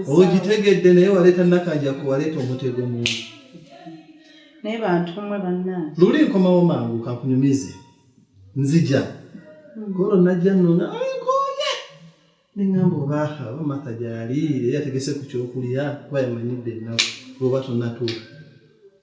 ogitegedde naye waleeta nakanjaku waleeta omutego mungi naye bantu mwe bannange luli nkomawo mangu kakunyumize nzija hmm. golo najja nona nkoye neŋamba obaaha oba matha gyali yali ategese ku kyokulya kuba yamanyidde ennaku oba tonatuuka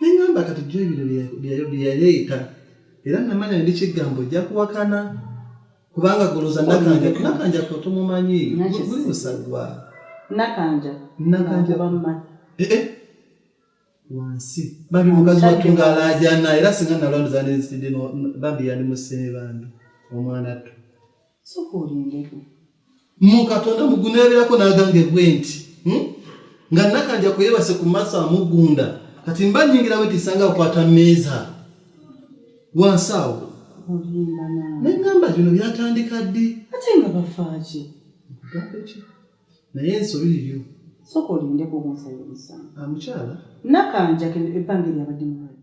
neŋamba kati jo ebino byeyaleeta era namanya ndi kigambo ojja kuwakana kubanga goloza nakanja nakanja ko tomumanyi guli musagwa nakanja nakanja bamma eh eh wansi bambi mukazi watu ngalajana era singa nalondoza nenzitidde bambi yali musene bambi omwana tu mukatonda muguneberako nagamba ebwe nti hmm? nga nakanja kweyebase ku maaso amugunda kati mba nyingira wetisanga akwata meeza wansi awo nengamba bino byatandika ddi ate nga bafaaki naye ensobi liryo soka olindeko omukyala nakanja ebbanga eryabadde mulwadde